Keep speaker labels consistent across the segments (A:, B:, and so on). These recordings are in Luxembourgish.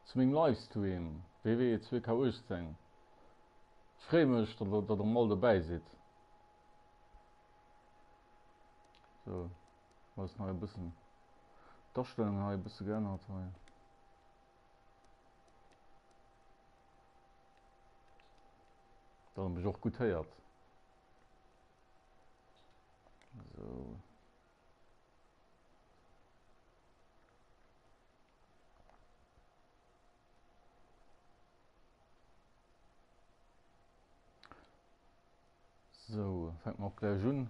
A: Zu mengem Livestream WWE 2K18. Ech freeë mech, datt der erëm all dobäi sidd. Sou, elo ass nach e bëssen d'Astellungen hei e bësse geännert hei. Datt der mech och gutt héiert. Sou. So, fängt man auch gleich an.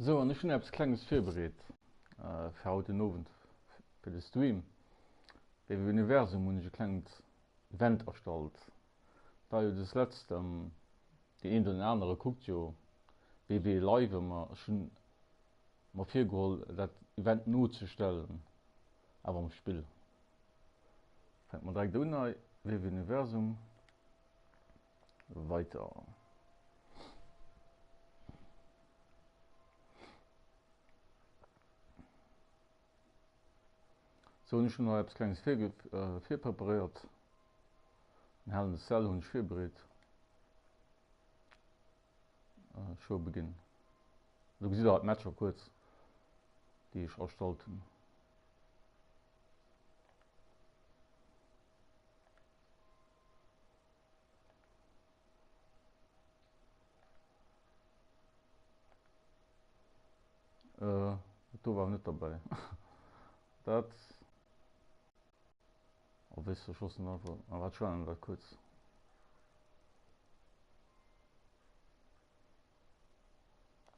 A: Sou, an ech hunn eppes Klenges virbereet fir haut den Owend, fir de Stream. Wéi am Universum hunn ech e klengt Wend a Stolz war jo des Letzt am, deen eent oder deen anere kuckt jo WW Live ëmmer, ech hunn mer virgeholl dat Event nozestellen, awer am Spill fänkt mer direkt un hei, WWUniversum, weiter. Sou, ech hunn nach eppes Klenges virpreparéiert. En hellen Sell hunn ech virbereet. Showbeginn. Do gesitt der alt d'Matcher kuerz, déi ech erstallt hunn. Äh, dat do war net derbäi. Dat a wéis de schossen einfach a wat schwannen dat kuerz.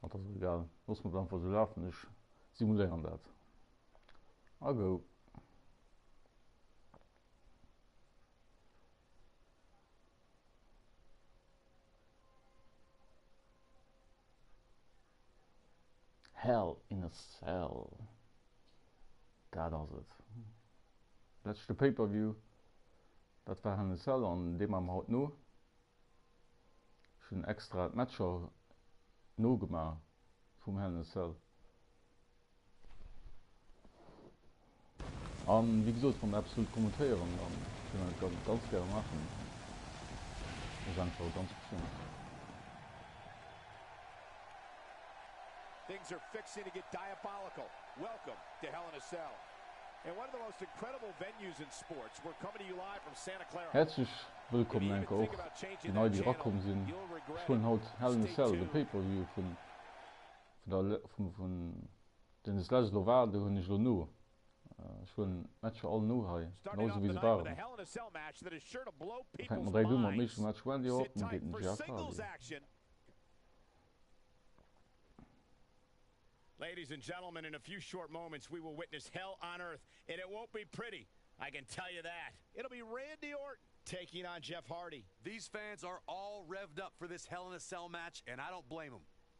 A: Mat ass egal. Loss mat einfach so lafen ech simuléieren dat. A go. Hell in a Cell, dat ass et. Leschte Pay-per-View, dat war Hell in a Cell an dee maache mer haut no. Ech hunn extra d'Matcher nogemaach vum Hell in a Cell, An, wéi gesot, wann Der eppes wëllt kommentéieren, da kéint een dat ganz gäre maachen. Dat ass einfach e ganz Optiounen. Things are fixing to get diabolical. Welcome to Hell in a Cell. In one of the most incredible venues in sports, we're coming to you live from Santa Clara. Häerzlech wëllkommen enker och déi nei déi erakomm sinn. Ech huelen haut Hell in a Cell, de Pay-per-View vun Vun den Slices elo war, do hunn ech elo no. Ech huelen d'Matcher all no hei, genau sou wéi se waren. Da fänkt mer direkt u mam éischte Match Wendy Orton géint den Jeff Hardy. Ladies and gentlemen, in a few short moments we will witness hell on earth and it won't be pretty I can tell you that. It'll be Randy Orton taking on Jeff Hardy. These fans are all revved up for this Hell in a Cell match and I don't blame em.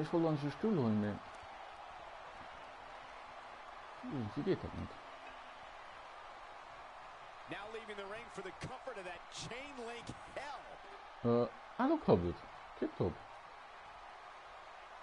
A: Ech wollt eigentlech e Stull huelen, mee iergendwéi geet dat net. Ah, elo klappt et. Tiptop.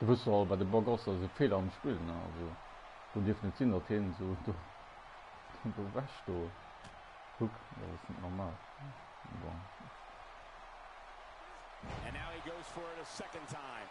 A: Du wëss jo all wat e Bug ass, dat ass e Feeler am Spill ne, also do dierf net sinn dat heen esou do ewech do kuck, dat ass net normal bon. And now he goes for it a second time.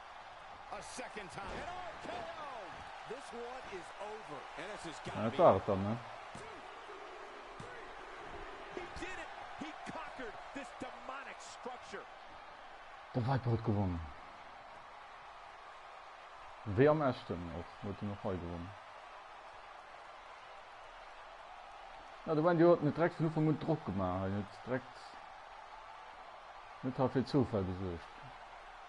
A: An et war et dann, ne? De Viper huet gewonnen. Wéi am Echten och, huet en och hei gewonnen. Ja, de Wendy huet net direkt vun Ufank un Drock gemaach, hien huet direkt net hei fir Zoufäll gesuergt.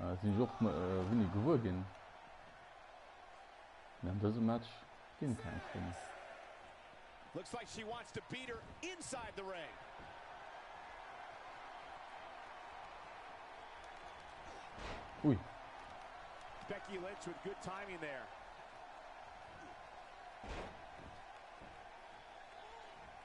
A: Äh, sinn ech och äh, wéini gewuer ginn. Mee an dësem Match ginn keng Schrinn. Looks like she wants to beat her inside the ring. Ui. Becky Lynch with good timing there.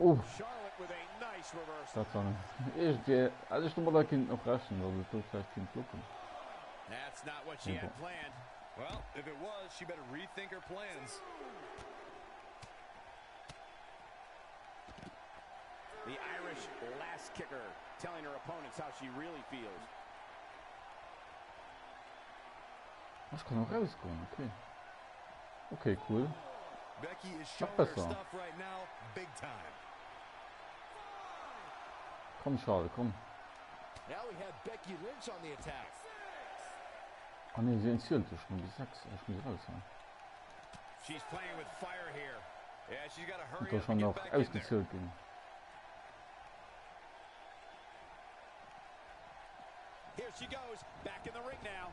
A: Oh, dat war net. Ech de hätt ech domat a kinnt och rechnen, datt et do vläicht kinnt kloppen. Mee bon. The Irish last kicker telling her opponents how she really feels. Ech kann och rausgoen, okay. Okay, cool. Nach besser. Komm, Charles, komm. Ah ne, sie entzielt sich nur bis 6. Ich muss raus, ja. Und da schon noch ausgezielt bin. Here she goes, back in the ring now.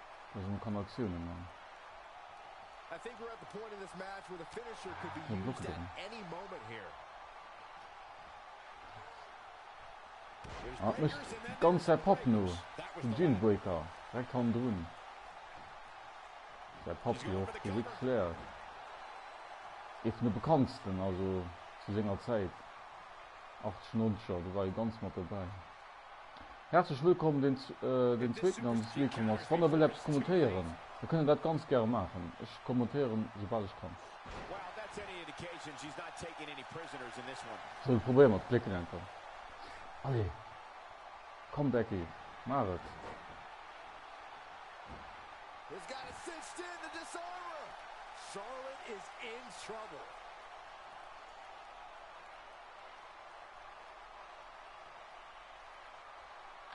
A: Datt en kann Aktiounen man. Ah, mécht ganz säi Papp no, den Gene Breaker, direkt hannendrun. Säi Papp jo och Physikslehr, ee vun de bekanntsten, also zu senger Zäit, 80, 90er, do war e ganz mat dobäi. Häerzlech wëllkomm den den zweeten an d'Smile komm ass. Wann der wëllt eppes kommentéieren, da kënnt der dat ganz gäre maachen. Ech kommentéieren soubal ech kann. Sou, probéier mer d'Klécken enker. Allez, komm Becky, maach et!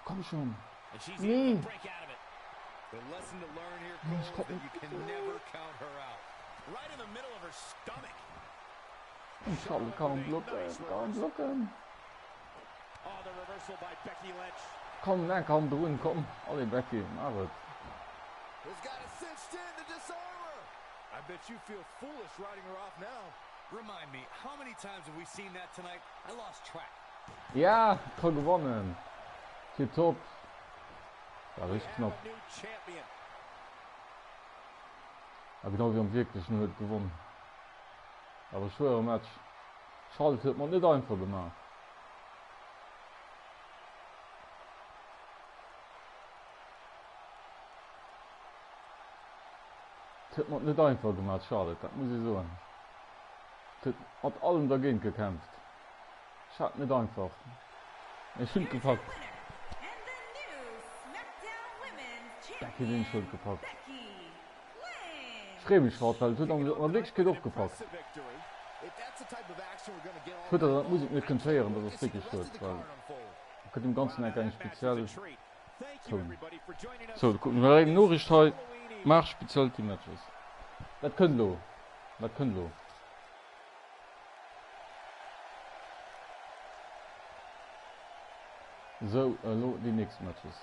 A: Komm schon. Nee. Ich komm nicht. Ich kann kaum blocken. Kaum blocken. Komm, na, komm, drun, komm. Alle Becky, mach es. I bet you feel foolish writing her off now. Remind me, how many times have we seen that tonight? Ja ka gewannen tip top war rich knapp a genau wéi am wierklechen huet gewonn awer schwere Match Charlotte huet mat net einfach gemaach. huet mat net einfach gemat Charlotte, dat muss ee soen. Huet mat allem dergéint gekämpft. Ech hat net einfach. Mee ech hunn d'gepackt. Becky Lynch huet gepackt. Ech freeë mech haut, well et huet an der Wierklechkeet och gepackt. Schued, datt dat d'Musek net kënnt héieren, datt ass wierklech schued, well et gëtt dem Ganzen enk eng speziell. So, da kucken ech eng Noriicht hei. Marsch speziell Team Matches. Wat kënnt elo? Wat kënnt elo? So, elo déi nächst Matches.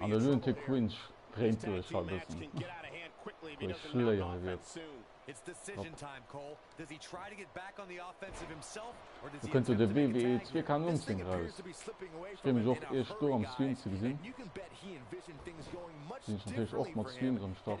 A: An den Lunatic Fringe dréint duerch haut e bëssen, wou ech schléiere géif. Do kënnt jo de WWE 2K19 eraus. Ech freeë mech och iech do am Stream ze gesinn. Sinn ech natierlech och mat Stream dran am Start.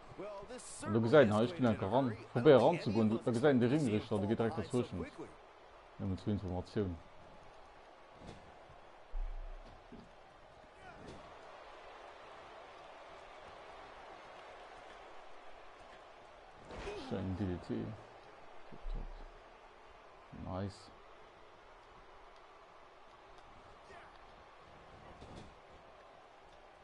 A: An do gesäit en, hei, ech ginn einfach ran, probéier ranzegoen. Do, da gesäit en de Ringrichter, de geet direkt derzwëschent. Nëmmen zur Informatioun. Schön DDT. Top, top. Nice.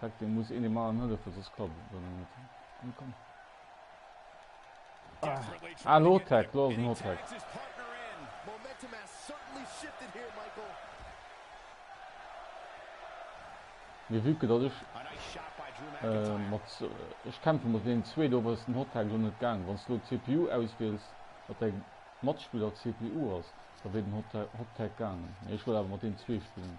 A: Tack deen muss een emmer anhëllefen soss klappt et dann net an komm ah lo tack lo ass en hot tack mee vue que dat ech äh, mat äh, ech kämpfe mat den zwee do ass den hot tack lo net gaang wann s du lo cpu auswiels wat deg matspiller cpu ass da wéi den hot tack gaangen ech wollt awer mat den zwee spillen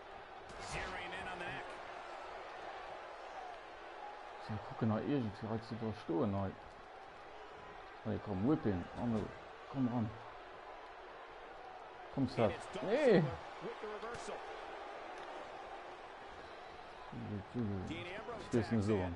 A: Sinn a kucken hei iergendwéi hei ze iwwerstoen hei. Allez komm, whip him, Arno, komm ran. Komm Seb, nee! Stees net esou an.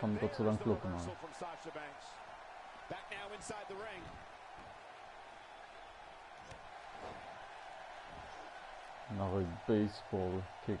A: Kann Gott sei Dank blocken hei. Nach e Baseball Kick.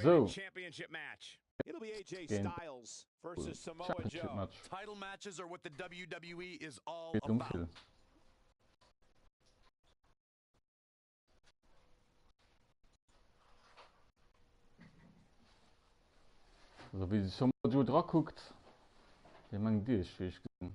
A: Sou, een Championship-Match geet ëm vill. Sou, wéi sech Samoa Joe drakuckt, wéi mengt Dir, ech wéi ech gesinn?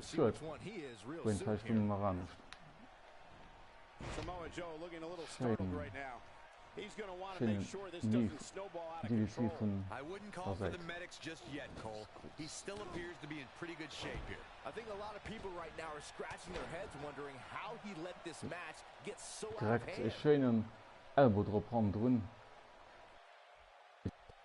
A: Schued, wou een d'Hai Stung nach anescht. Schéin, schéinen Move, DDT vun der Säit. Direkt e schéinen Elbow drop hannendrun.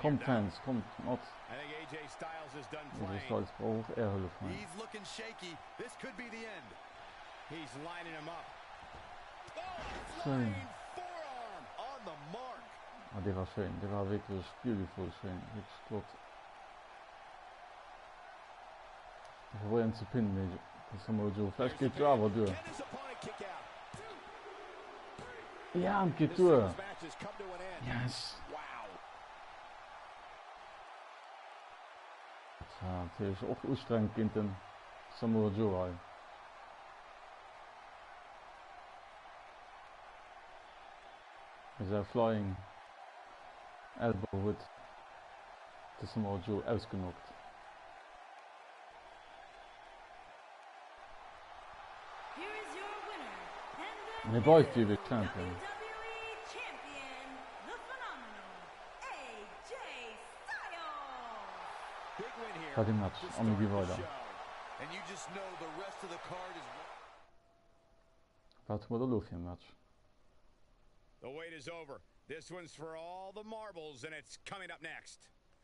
A: Kommt Fans, kommt mat! AJ Styles brauch och är Hëllef hei. Schéin! Ah, dee war schéin. Dee war wierklech beautiful schéin. Wierklech flott. Ech probéieren et ze pinnen, mee et ass emol do. Vläicht geet se awer duer. Ja, et geet duer. Yes! Dat war natierlech och ustrengend géint de Samoa Joe hei. Mee säi Flying Elbow huet de Samoa Joe ausgenockt. Mir weift iwwe Champion. War de Match an mir gi weider. Wat hu mer da lo fir e Match? The wait is over. This one's for all the marbles and it's coming up next.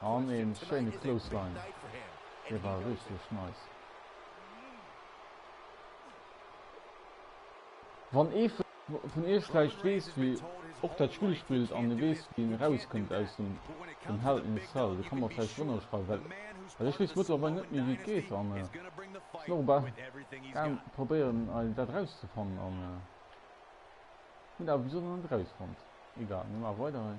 A: An ee schéine Clothesline. Dee war richteg nice. Wann ee vun iech vläicht weess, wie och dat Spill spillt an e weess, wien erauskënnt aus dem dem Hell in a Cell, dee ka mer vläicht drënner schreiwen, well well ech weess mëttlerweil net méi, wéi et geet an ech sinn och bal gaang probéieren, dat erauszefannen an hunn awer bis elo nach net erausfonnt. Egal, mir maache weider hei.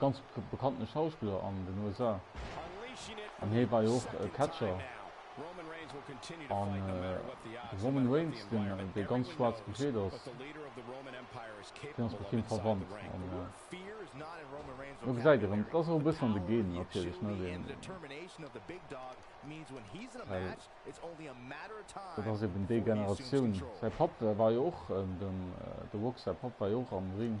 A: ganz bekannten Schauspiller an den USA an hie war jo och Catcher. An de Roman Reigns, deen dee ganz schwaarz gekleet ass, deen ass mat him verwandt. An do gesäit Dir erëm, dat ass och e bëssen an de Genen natierlech, ne, deen, well dat ass eben déi Generatioun. Säi Papp war jo och, dem The Rock säi Papp war jo och am Ring.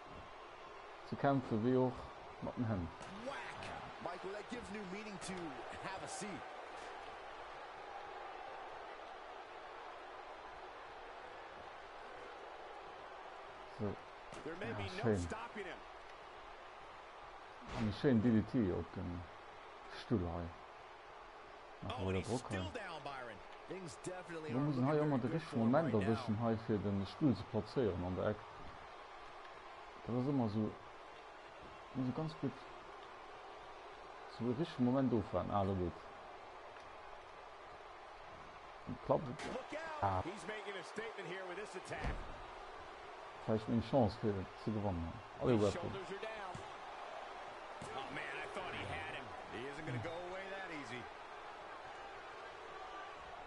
A: ze kämpfen, wéi och mat den Hänn. Sou, ja schéin. An e schéin DDT op den Stull hei. Nach emol der Drock hei. Lo muss en hei och mol de richtege Moment erwëschen hei fir den Stull ze plazéieren an der Eck. Dat ass ëmmer esou, et muss e ganz gutt zum richtege Moment ofwaarden. Ah, do geet et. Klappt et? Ah. Vläicht meng Chance fir et ze gewannen. Allez, Weapon.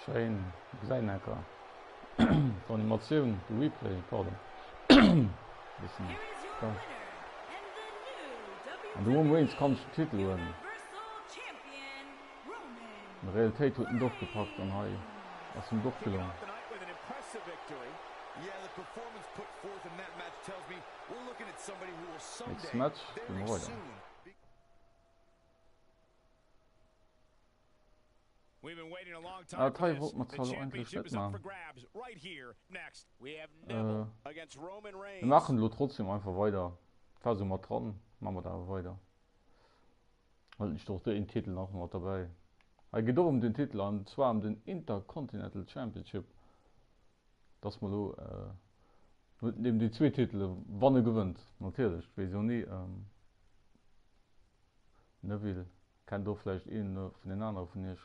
A: Schéin, gesäit enker d'Animatioun, de Replay, pardon. Bëssen, ja. An du Waynes kann Titel huelen. Realitéit huet en doch gepackt an hei ass him d'Off gelong. Nächst Match ginn mer weider. Ah dat hei wollt mer zwar lo eigentlech net man. Mir maachen elo trotzdem einfach weider. War sou mat dran, man mer dat awer weider. Huet nicht och deen Titel nach mat derbäi? Hei geet och ëm den Titel an zwar ëm den Intercontinental Championship. Et ass mol elo net neben déi zwee Titele wann e gewënnt natierlech, et weess jo ni. Neville, kennt do vläicht ee vun den anere vun iech?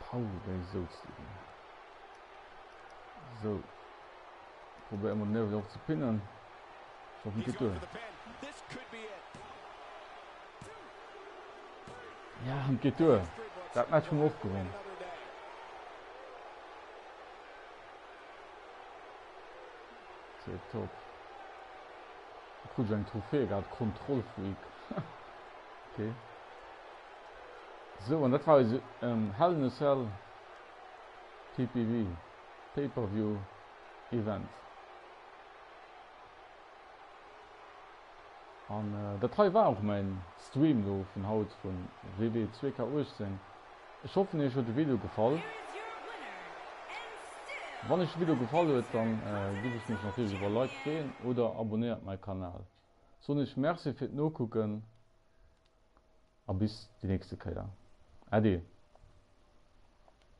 A: Paul, wéi souz de do? Sou, probéier emol den Nerv erop ze pinnen. Ech hoffen, et geet duer. Ja, an et geet duer. Dat Match hunn mer och gewonn. Tipptopp. Du krut eng Trophée, grad Kontrollfreak. Okay. Sou, an dat war eise Hell in a Cell PPV, Pay-Per-View, Event. An dat hei war och mäin Stream elo vun haut vu WW 2K18. Ech hoffen iech huet de Video gefall. Wann iech de Video gefall huet, dann giff ech mech natierlech iwwer e Like freeën oder abonnéiert mäi Kanal. Soen iech Merci fir d'Nokucken. A bis déi nächste Kéier. Äddi!